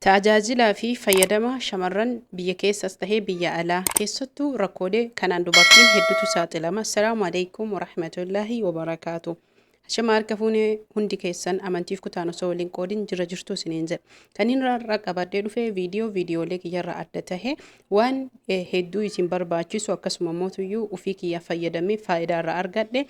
Tajaajilaa fi fayyadama shamarran biyya keessas tahee biyya alaa keessattuu rakkoolee kanaan dubartiin heddutu saaxilama. Assalaamu alaikum warahmatullaahi wabarakaatu. Shama harka fuune hundi keessan amantiif kutaan osoo waliin qoodin jira jirtu isiniin jedha. Kaniin irraa qabadhee dhufe viidiyoo viidiyoolee kiyyarraa adda tahe Waan hedduu isin barbaachisu akkasuma mootuyyuu ufii kiyyaa fayyadamee faayidaa irraa argadhe.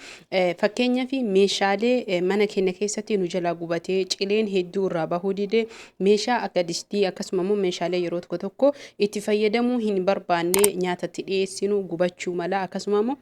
Fakkeenyaaf meeshaalee mana keenya keessatti nu jalaa gubatee cileen hedduu irraa bahuu dide meeshaa akka distii akkasuma immoo meeshaalee yeroo tokko tokko itti fayyadamuu hin barbaanne nyaatatti dhiyeessinu gubachuu mala akkasuma immoo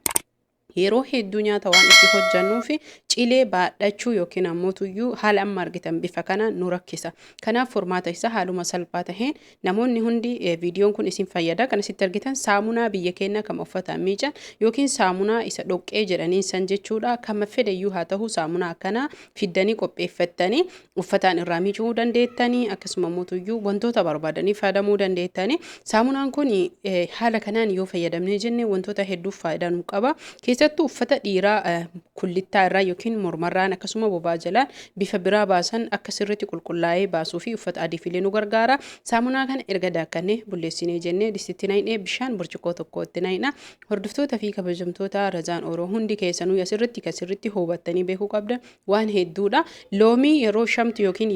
Yeroo hedduu nyaata waan itti hojjannuuf cilee baadhachuu yookiin ammoo tuyyuu haala amma argitan bifa kanaan nu rakkisa. Kanaaf furmaata isaa haaluma salphaa taheen namoonni hundi viidiyoon kun isin fayyada. Kan asitti argitan saamunaa biyya keenya kama uffataan miican yookiin saamunaa isa dhoqqee jedhaniin san jechuudha. Kama fedhe iyyuu haa tahu saamunaa akkanaa fiddanii qopheeffattanii uffataan irraa miicuu dandeettanii akkasuma mootuyyuu wantoota barbaadanii fayyadamuu dandeettanii saamunaan kun eh, haala kanaan yoo fayyadamnee jenne wantoota hedduuf faayidaa nu qaba keessattuu uffata dhiiraa eh, kullittaa irraa yookiin mormarraan akkasuma bobaa jalaan bifa biraa baasan akka sirriitti qulqullaa'ee baasuu fi uffata adiifilee nu gargaara saamunaa kana erga daakkannee bulleessinee jennee distitti naqnee bishaan burcuqqoo tokkootti naqna Hordoftoota fi kabajamtoota Razaan Oro hundi keessanuu asirratti kan sirritti hubattanii beekuu qabdan waan hedduudha. Loomii yeroo shamtu yookiin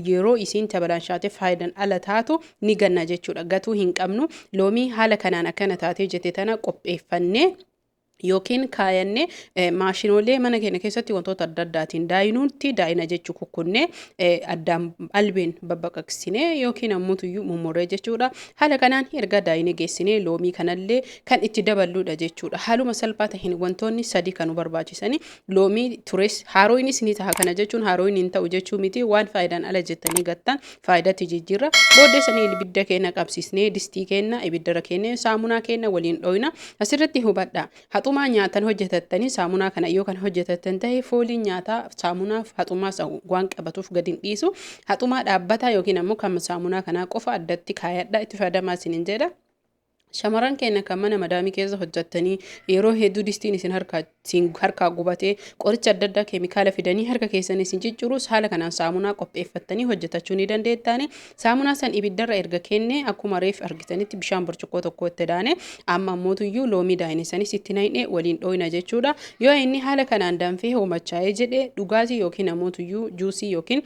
yeroo isiin tabalaanshaate faayidan ala taatu ni ganna jechuudha. Gatuu hin qabnu. Loomii haala kanaan akkana taatee jette tana qopheeffannee yookiin kaayanne maashinoolee mana keenya keessatti wantoota adda addaatiin daayinuutti daayina jechuu kukkunnee addaan albeen babbaqaqsinee yookiin ammutuyyuu mummurree jechuudha. Haala kanaan erga daayine geessinee loomii kanallee kan itti daballuudha jechuudha. Haaluma salphaa taheen wantoonni sadii kan nu barbaachisani. Loomii tures haarooyinis ni taha. Kana jechuun haarooyin hin ta'u jechuu miti. Waan faayidaan ala jettanii gattan faayidatti jijjiirra. Booddee sanii ibidda keenna qabsiisnee distii keenna ibiddarra keennee saamunaa keenna waliin dhooyna. Asirratti hubadhaa. Haxumaa nyaatan hojjetattanii saamunaa kana yoo kan hojjetattan ta'e fooliin nyaataa saamunaaf haxumaas waan qabatuuf gadi hin dhiisu. Haxumaa dhaabbataa yookiin ammoo kan saamunaa kanaa qofa addatti kaayadha itti fayyadamaa isiniin jedha. Shamarran keenya kan mana madaamii keessa hojjettanii yeroo hedduu distiin isin harkaa isin harkaa gubatee qoricha adda addaa keemikaala fidanii harka keessan isin ciccirus haala kanaan saamunaa qopheeffattanii hojjetachuu ni dandeettaani. Saamunaa san ibiddarra erga keennee akkuma reef argitanitti bishaan burcuqqoo tokkoo itti daane amma ammootuyyuu loomii daayine sanis itti nayne waliin dhooyna jechuudha. Yoo inni haala kanaan danfee hoomachaa'ee jedhe dhugaatii yookiin ammootuyyuu juusii yookiin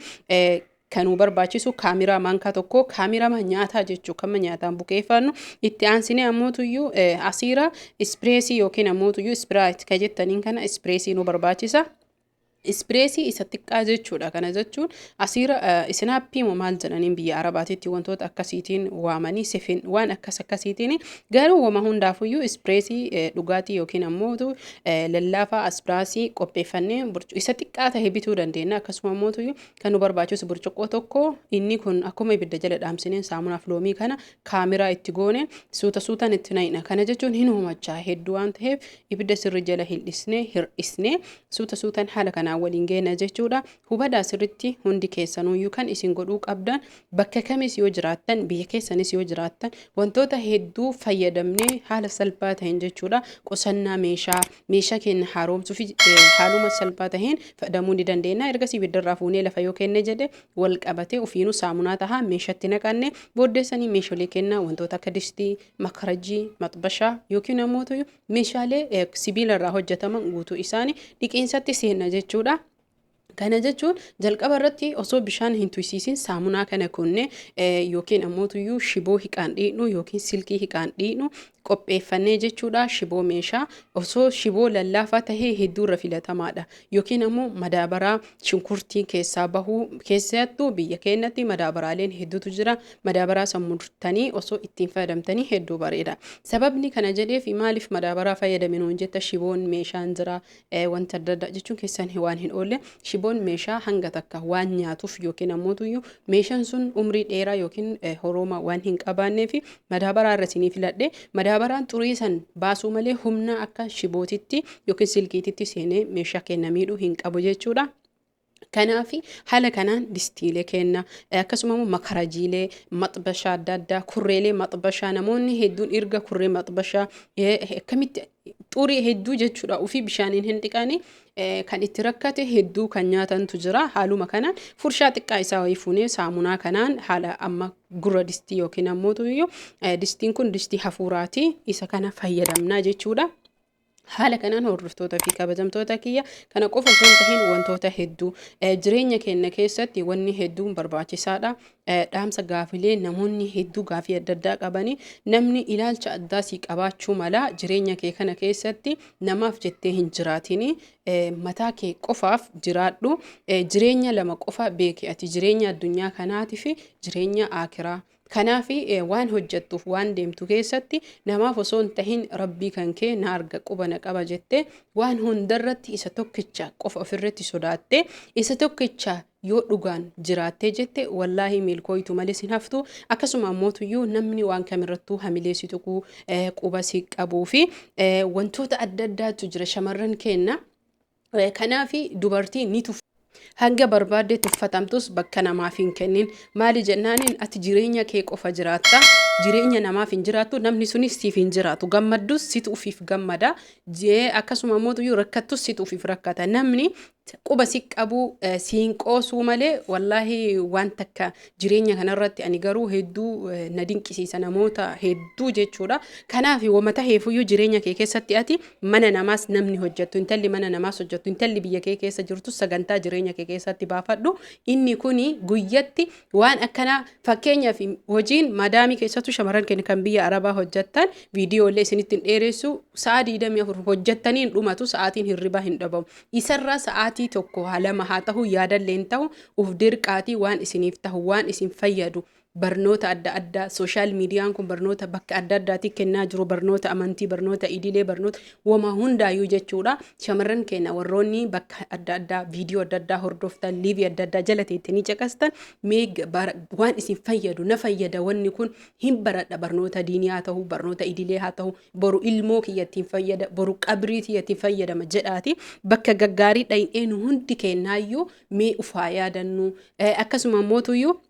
kanuu barbaachisu kaamiraa maankaa tokko kaamirama nyaataa jechuu kama nyaataan bukeeffannu itti aansinee ammootuyyuu asiira ispireesii yookiin ammootuyyuu ispiraayit ka jettaniin kana ispireesii nu barbaachisa. Ispreesii isa xiqqaa jechuudha. Kana jechuun asiira isinaappii moo maal jedhaniin biyya Arabaatiitti wantoota akkasiitiin waamanii sifin waan akkas akkasiitiin garuu wama hundaafuyyuu ispreesii dhugaatii yookiin ammoo lallaafaa aspraasii qopheeffannee isa xiqqaa ta'e bituu dandeenya. Akkasuma ammoo kan nu barbaachisu burcuqqoo tokko inni kun akkuma ibidda jala dhaamsineen saamunaaf loomii kana Kaameraa itti goone suuta suutaan itti naqna. Kana jechuun hin humachaa hedduu waan ta'eef ibidda sirri jala hin dhisne hir'isne suuta suutaan haala kanaan waliin geena jechuudha. Hubadhaa sirritti hundi keessanuyyuu kan isin godhuu qabdan bakka kamis yoo jiraattan biyya keessanis yoo jiraattan wantoota hedduu fayyadamnee haala salphaa ta'een jechuudha. Qusannaa meeshaa meeshaa keenya haaromsuu fi haaluma salphaa ta'een fayyadamuu ni dandeenya. Ergasii ibiddarraa fuunee lafa yoo kenne jedhe wal qabatee ofiinuu saamunaa tahaa meeshatti naqanne booddeessanii meesholee kennaa wantoota akka distii, makarajii, maxbashaa yookiin ammoo meeshaalee sibiila irraa hojjetaman guutuu isaanii dhiqiinsatti seenna jechuudha. Kana jechuun jalqaba irratti osoo bishaan hin tuysiisin saamunaa kana kunne yookiin ammoo tuyyuu shiboo hiqaan dhiidhu yookiin silkii hiqaan dhiidhu qopheeffannee jechuudha shiboo meeshaa osoo shiboo lallaafaa tahee hedduu irra filatamaadha yookiin ammoo madaabaraa shunkurtiin keessaa bahuu keessattuu biyya keenyatti madaabaraaleen hedduutu jira madaabaraa san murtanii osoo ittiin fayyadamtanii hedduu bareeda sababni kana jedheef maaliif madaabaraa fayyadaminoon jetta shiboon meeshaan jira wanta adda addaa jechuun keessan waan hin oolle shiboon meeshaa hanga takka waan nyaatuuf yookiin ammootuyyuu meeshaan sun umrii dheeraa yookiin horooma waan hin qabaannee fi madaabaraa irra isinii filadhe madaabaraan xurii san baasuu malee humna akka shibootitti yookiin silkiititti seenee meeshaa kenna miidhuu hin qabu jechuudha. Kanaaf haala kanaan distiilee kenna akkasuma immoo makarajiilee maxbashaa adda addaa kurreelee maxbashaa namoonni hedduun erga kurree maxbashaa akkamitti xurii hedduu jechuudha ofii bishaaniin hin dhiqaane kan itti rakkate hedduu kan nyaatantu jira haaluma kanaan furshaa xiqqaa isaa wayii fuunee saamunaa kanaan haala amma gurra distii yookiin ammoo distiin kun distii hafuuraati isa kana fayyadamnaa jechuudha. Haala kanaan hordoftoota fi kabajamtoota kiyya kana qofa osoo hin tahin wantoota hedduu eh, jireenya keenya keessatti wanni hedduun barbaachisaadha. Eh, Dhaamsa gaafilee namoonni hedduu gaafii adda addaa qabanii namni ilaalcha addaa sii qabaachuu mala jireenya kee kana keessatti namaaf jettee hin jiraatini eh, mataa kee qofaaf jiraadhu. Eh, Jireenya lama qofa beeki ati jireenya addunyaa kanaatii fi jireenya aakiraa. Kanaaf waan hojjattuuf waan deemtu keessatti namaaf osoo hin tahin rabbii kan kee na arga quba na qaba jette waan hundarratti isa tokkicha qofa ofirratti sodaatte isa tokkicha yoo dhugaan jiraattee jette wallaahi milkooytu malees hin haftu akkasuma ammootuyyuu namni waan kamirrattuu hamilee si tuquu quba si qabuu fi wantoota adda addaatu jira shamarran keenna. Kanaafi dubartiin ni tuffatamti. Hanga barbaadde tuffatamtus bakka namaaf hin kennin. Maali jennaaniin ati jireenya kee qofa jiraatta. Jireenya namaaf hin jiraattu. Namni sunis siif hin jiraatu. Gammaddus situ ufiif gammada. Akkasuma mootuyyuu rakkattus situ ufiif rakkata. Namni quba si qabuu siin qoosuu malee wallaahi waan takka jireenya kanarratti ani garuu hedduu na dinqisiisa namoota hedduu jechuudha. Kanaaf wama taheefuyyuu jireenya kee keessatti ati mana namaas namni hojjettu intalli mana namaas hojjettu intalli biyya kee keessa jirtu sagantaa jireenya kee keessatti baafadhu inni kuni guyyatti waan akkana fakkeenyaaf hojiin madaamii keessattuu shamarran keenya kan biyya arabaa hojjettan viidiyoolee isinitti hin dheeressu sa'a 24 hojjettanii hin dhumatu sa'aatiin hirribaa hin dhabamu isarraa sa'aatii tokko haa lama haa ta'u yaadallee hin ta'u uf dirqaatii waan isiniif ta'u waan isin fayyadu barnoota adda addaa social miidiyaan kun barnoota bakka adda addaatii kennaa jiru barnoota amantii barnoota idilee barnoota woma hundaayyuu jechuudha shamarran keenya warroonni bakka adda addaa viidiyoo adda addaa hordoftan liivii adda addaa jala teettanii caqastan mee waan isin fayyadu na fayyada wanni kun hin baradha barnoota diinii haa ta'u barnoota idilee haa ta'u boru ilmoo kiyyattiin fayyada boru qabrii tiyyattiin fayyadama jedhaati bakka gaggaarii dhayin'een hundi kennaayyuu mee ufaa yaadannuu akkasuma mootuyyuu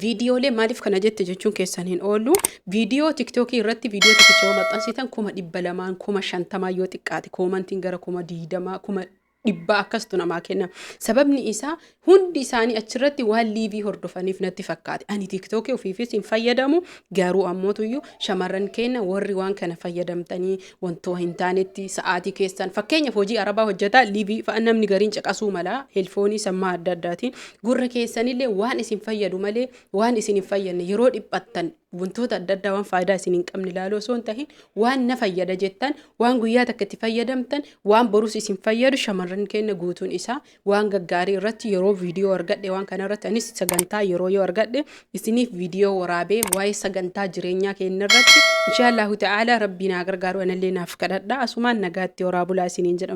viidiyoolee maaliif kana jette jechuun keessan hin oolu viidiyoo tiktookii irratti viidiyoo tokkicha yoo maxxansitan kuma dhibba lamaan kuma shantamaa yoo xiqqaate koomantiin gara kuma diidamaa kuma dhibbaa akkastu namaa kenna sababni isaa hundi isaanii achirratti waan liivii hordofaniif natti fakkaate ani tiktookii ofiifis hin fayyadamu garuu ammootuyyuu shamarran keenya warri waan kana fayyadamtanii wantoo hin taanetti sa'aatii keessan fakkeenyaaf hojii arabaa hojjetaa liivii fa'a namni gariin caqasuu mala heelfoonii sammaa adda addaatiin gurra keessanillee waan isin fayyadu malee waan isin hin fayyadne yeroo dhiphattan wantoota adda addaa waan faayidaa isin hin qabne ilaaluu osoo hin tahin waan na fayyada jettan waan guyyaa takka itti fayyadamtan waan borus isin fayyadu shamarran keenya guutuun isaa waan gaggaarii irratti yeroo viidiyoo argadhe waan kana irratti anis sagantaa yeroo yoo argadhe isiniif viidiyoo waraabee waa'ee sagantaa jireenyaa keenya irratti inshaallahu ta'aalaa rabbii naa gargaaru anallee naaf kadhadha asumaan nagaatti horaa bulaa isiniin jedhamu.